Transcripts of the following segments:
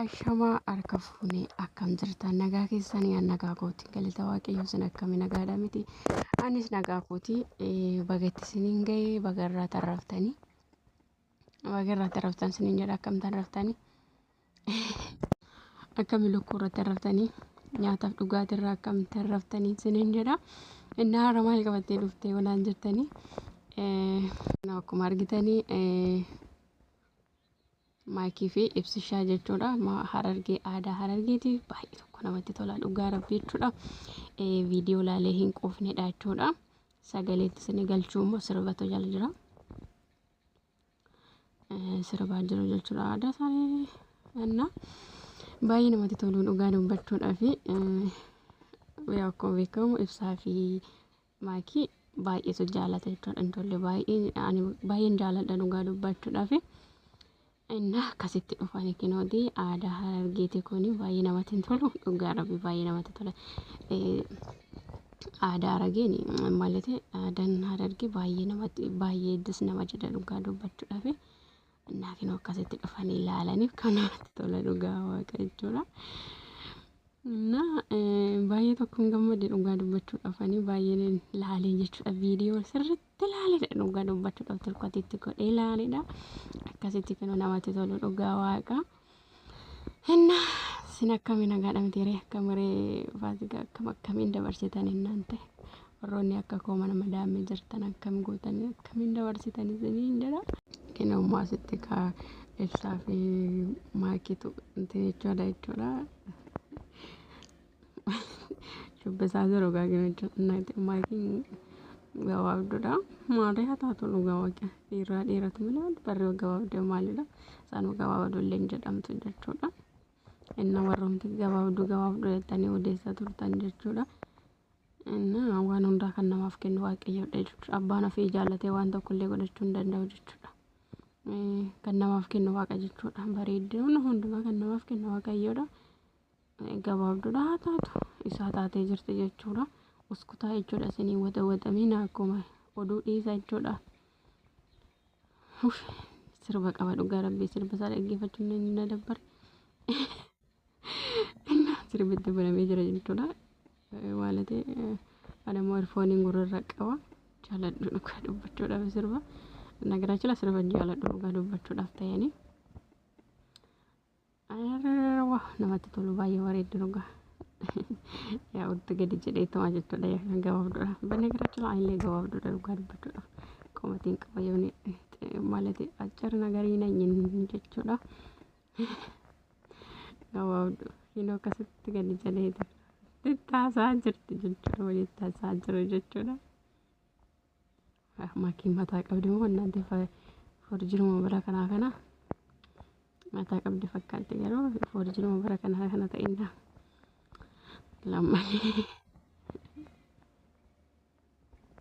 Ashamaa harka fuunee akkam jirtan nagaa keessanii an nagaa kootiin galata waaqayyoo sin akkami nagaadha miti anis nagaa kootii baga itti siniin ga'ee baga irraa tarraftanii Baga irratti raftan sinin jedha akkamtan raftani. Akkami lukkuu irratti raftanii nyaataaf dhugaatii irraa akkamtan raftanii sinin jedha. Innaa har'a maal qabattee dhuftee wanaan jettanii. Akkuma argitanii maayikii fi ibsishaa jechuudha. Harargee aadaa harargeeti baay'ee tokko namatti tola dhugaa rabbii jechuudha. Viidiyoo laalee hin quufnedha jechuudha. Sagaleetti sini galchuu immoo sirbatu jala jira. sirbaa jiru jechuudha aadaa isaanii እና baay'ee namatti toluu dhugaa dubbachuudhaa fi akkuma beekamu ibsaa fi maakii baay'eetu jaalata jechuudha intalli baay'een jaaladha dhugaa dubbachuudhaa fi Ennaa akkasitti dhufani kinooti aadaa harargeeti kuni baay'ee namatti hin tolu dhugaa rabbi baay'ee namatti tola. Aadaa harageen malete aadaan harargee baay'ee namatti baay'ee dus nama jedha dhugaa dubbachuudhaaf. Ennaa kinoo akkasitti dhufanii ilaalaniif kan namatti tola dhugaa waaqa jechuudha. Na baay'ee tokkoon gammade dhugaa dubbachuudhaaf ani baay'een ilaalee jechuudha viidiyoo sirriitti. itti laalidha dhugaa dubbachuudhaaf tirkoti itti godhee laalidha akkasitti kinu namatti tolu dhugaa waaqa hinna sin akkami nagaadha miti ree akkamiree faasiga akkam akkamiin dabarsitan hinnaan ta'e warroonni akka koo mana madaamee jirtan akkam gootanii akkamiin dabarsitan isiniin jedha kinu immoo asitti kaa ibsaa fi maakitu inti jechuudha jechuudha Shubbisaa jiru egaa jira jennati maatiin gabaabduudha. Maatii haa taatu dhugaa waqa dhiiraa dhiiratu malee barri gabaabdee maalidha. Saanuu gabaabduu illee hin jedhamtu jechuudha. Inna warroomti gabaabduu gabaabduu jettanii odeessaa turtan jechuudha. Inna waan hundaa kan namaaf kennu waaqayyoodha jechuudha. Abbaan ofii jaallatee waan tokko illee godhachuu hin danda'u jechuudha. Kan namaaf kennu waaqa jechuudha. Bareedina hundumaa kan namaaf kennu waaqayyoodha. gabaabduudha haa taatu isaa taatee jirti jechuudha uskutaa jechuudha isinii wada wadamiina akkuma oduu dhiisa jechuudha sirba qaba dhugaa rabbii sirba isaa dhaggeeffachuun ni na dabbare sirbitti banamee jira jechuudha waalate adamoo irfooniin gurrarra qaba jaaladhu dhugaa dubbachuudhaaf sirba nagaraachila sirba jaaladhu dhugaa dubbachuudhaaf ta'anii Arrarararwa namatti tolu baay'ee bareeddu dhugaa. Yaa utti gadi jedhee tumaa jechuudha yaa kan gabaabduudha. Banagaraachuu aanillee gabaabduudha dhugaa dubbachuudha. Qomatiin qaba yoo ni malati accarna garii na nyin jechuudha. Gabaabdu hin akkasitti gadi jedhee tattaasaa jirti jechuudha walitti taasisaa jiru jechuudha. Maakiin mataa qabdi moo annaante forjiruma bara kanaa kana mataa qabdi fakkaatti garuu forjiruma bara kanaa kana ta'inna lammalee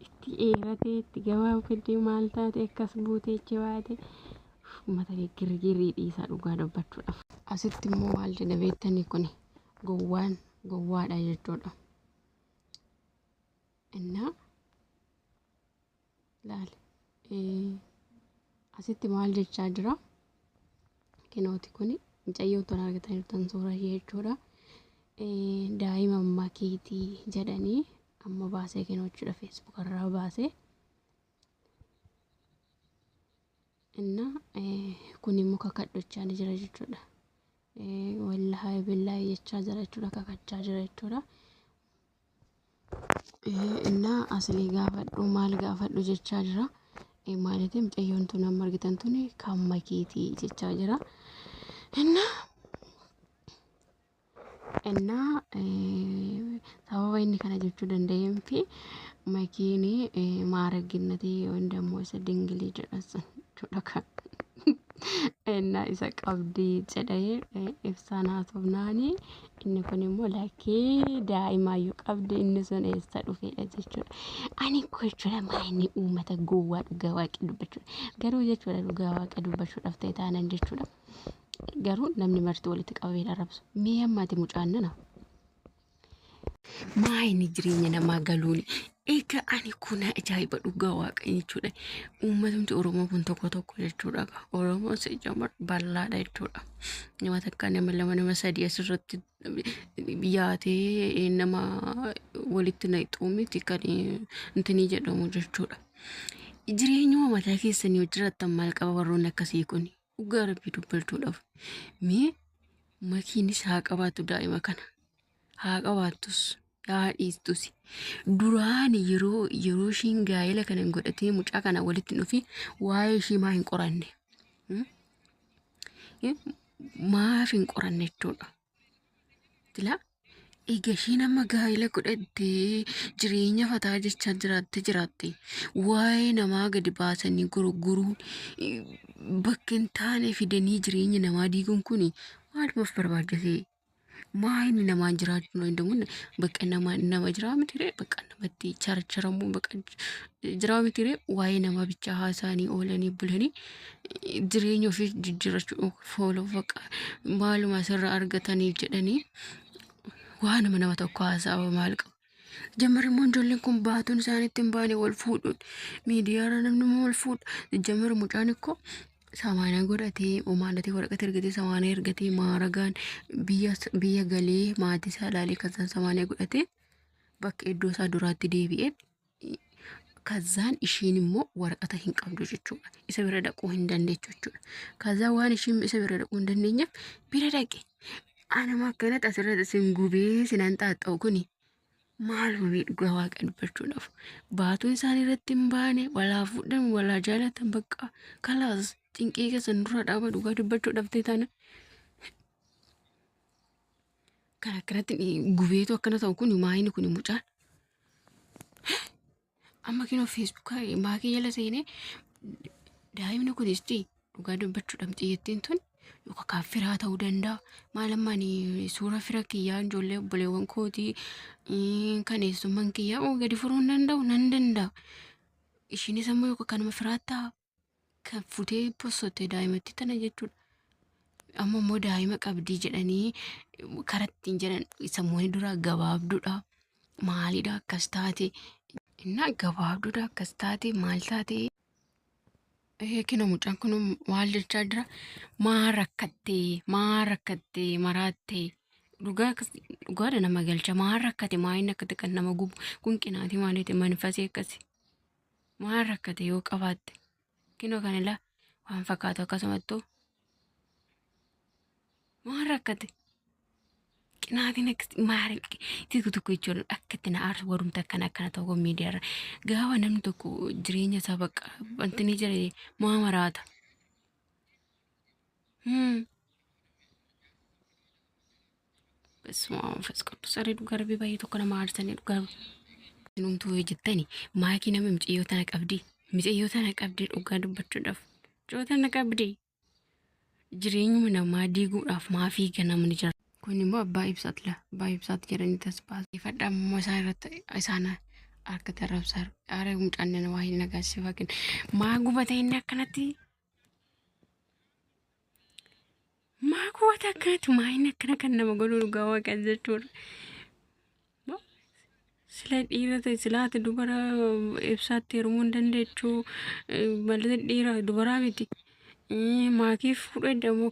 itti eeratee itti gabaaf fiddee maal taate akkas buutee ichi baate uummata girgirrii dhiisaa dhugaa dubbachuudhaaf. Asitti immoo maal jedha beektanii kun gowwaan gowwaadha jechuudha. innaa laali asitti maal jechaa jira kinooti kun mucayyoo tun argataniirtan suura ishee jechuudha daa'ima ammaa keetii jedhanii amma baasee kinoochuudha feesbuuk irraa baasee innaa kun immoo kakadhochaa ni jira jechuudha wallahi billahi jechaa jira jechuudha kakachaa jira jechuudha Innaa asilii gaafadhu maal gaafadhu jechaa jira. Maalitii mucayyoon tun amma argitan tun kan makiitii jechaa jira. Innaa innaa sababa inni kana jechuu danda'een fi makiin maaragginnatii yoon dammoo isa dingilii jedhan sun jechuudha kan. Innaa isa qabdii jedhee ibsaan haasofnaanii Inni kun immoo lakkii daa'imaayyuu qabdi inni sun eessa dhufeedha jechuudha. Ani koo jechuudha maayinni uummata gowwaa dhugaa waaqii dubbachuudha. Garuu jechuudha dhugaa waaqii dubbachuudhaaf ta'e taanan jechuudha. Garuu namni marti walitti qabamee arrabsu. Mee ammaati mucaan nana. Maayinni jireenya namaa galuun Egaa ani kun ajaa'iba dhugaa waaqayyo jechuudha. Uummatumti Oromoo kun tokko tokko jechuudha. Oromoon sejjamar bal'aadha jechuudha. Nama takka nama lama nama sadii asirratti yaatee nama walitti naqxuu miti kan intinii jedhamu jechuudha. Jireenyuma mataa keessanii hojjetan maal qaba warroonni akkasii kun? Dhugaa rabbii dubbaltuudhaaf mee makiinis haa qabaatu daa'ima kana haa qabaattus haa dhiistus duraan yeroo yeroo ishiin gaa'ela kana hin godhatee mucaa kana walitti hin dhufin waa'ee ishii maa hin qoranne Hmm? Eh, maaf hin qoranne jechuudha Jila eega ishiin amma gaa'ila godhattee jireenya fataa jechaa jiraatte jiraatte waa'ee namaa gadi baasanii gurguruun eh, bakka hin taane fidanii jireenya namaa diiguun kun maalumaf barbaachisee? Maa inni namaan jiraachuu hin danda'u? Bakka nama nama jiraa mitiree bakka namatti charcharamuu bakka jiraa mitiree waa'ee namaa bichaa haasa'anii oolanii bulanii jireenya ofii jijjiirrachuu fooluu baqa maaluma asirraa argataniif jedhanii waanuma nama tokko haasa'aa maal qabu. Jammarri immoo ijoolleen kun baatuun isaanitti hin baane wal fuudhuun miidiyaarra namni immoo wal fuudha. Jammarri mucaan ikkoo samaana godhatee omaandatee waraqata ergatee samaana ergatee maaragaan biyya biyya galee maatii isaa ilaalee kan isaan samaana godhatee bakka iddoo isaa duraatti deebi'ee Kazaan ishiin immoo waraqata hin qabdu jechuudha. Isa bira dhaquu hin dandeechu jechuudha. Kazaa waan ishiin isa bira dhaquu hin dandeenyeef bira dhaqe. Anuma akkanatti asirratti isin gubee sinan xaaxxa'u kuni maal hubee dhugaa waaqa dubbachuudhaaf. Baatuun isaan irratti hin baane walaa fuudhan walaa jaalatan bakka kalaas cinqii keessan dura dhaaba dhugaa dubbachuu dhabdee taana. Kan akkanatti gubee akkana ta'u kuni maayini kuni mucaan. Amma kinoo feesbuukaa maakii jala seenee daa'imni kun isti dhugaa dubbachuu dhabxii jettiin tun yookaan kan firaa ta'uu danda'a. Maal amma ani suura fira kiyyaa ijoollee obboleewwan kootii eh, kan eessumman kiyyaa oo gadi furuu hin danda'u nan danda'a. Ishiinis ammoo yookaan kanuma firaa ta'a. kan futee bossotte daa'imatti tana jechuudha. Amma immoo daa'ima qabdii jedhanii karattiin jedhan sammuun duraa gabaabduudha. Maalidha akkas taate? Innaa gabaabduudha akkas taate maal taate? Eekina mucaan kun maal jechaa jira? Maa rakkattee? Maa rakkattee? Maraattee? Dhugaa dhugaadha nama galcha. Maa rakkate? Maa inni akkati kan nama gubu? Kun qinaati maaliiti? Manfasii akkasi. Waan rakkate yoo qabaatte kinoo kan ilaa waan fakkaatu akkasumattuu waan rakkate qinaatiin akkatti maari tokko tokko jechuun akkatti na aarsu warumta akkana akkana ta'u kun miidiyaarra gaafa namni tokko jireenya isaa bakka wanti ni jire maa maraata. Hmm. Bessuma manfas qudus ari dhugaa rabbi baay'ee tokko nama aarsanii dhugaa Numtuu yoo jettani maakii nama micayyoo tana qabdi micayyoo tana qabdi dhugaa dubbachuudhaaf micayyoo tana qabdi jireenyuma namaa diiguudhaaf maa fiiga namni jira. Kun immoo abbaa ibsaat la abbaa ibsaat jedhanii tasbaasifadha ammoo isaan irratti isaan harka tarrabsaa aara mucaan nana waa hin nagaasifakin maa gubata inni akkanatti Maa goota akkanatti maayin akkana kan nama godhu dhugaa waaqan jechuudha. Sila dhiira ta'e silaata dubara ibsaatti heerumuu hin dandeechu malee dhiira dubaraa miti. Maatiif fudhadha moo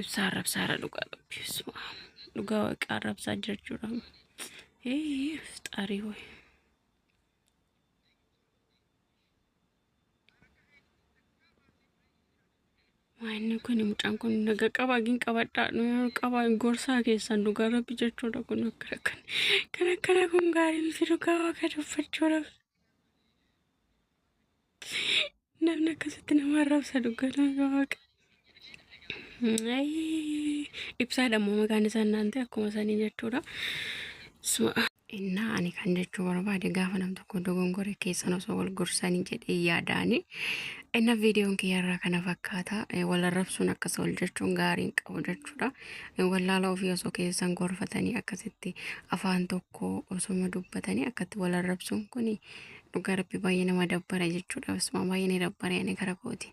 ibsaa arrabsaa irra dhugaa rabbi bismaa dhugaa waaqaa arrabsaa jechuudha ee fixaarii wayi Inni kun mucaan kun naga qaba gin qabadhaa qaba gorsaa keessan dhugaa rabbi jechuudha kun akka rakkan kan akkana kun gaarii miti dhugaa waaqa dubbachuu rabbi. Namni akkasitti nama arrabsa dhugaa nama waaqa. Ayii, Ibsaadha immoo maqaan isaa naan ta'e akkuma sanii jechuudha. Suma- Innaa ani kan jechuu barbaade gaafa nam tokko dogongore keessan osoo wal gorsanii jedhee yaadaani. Inna viidiyoon kiyyarraa kana fakkaata. Eh, Wal arrabsuun akkas wal jechuun gaarii hin qabu jechuudha. Eh, Wallaala ofii osoo keessan gorfatanii akkasitti afaan tokko osoma dubbatanii akkatti wal arrabsuun kuni dhugaa rabbi baay'ee nama dabbara jechuudha. Basumaa baay'ee ni dabbare ani gara kooti.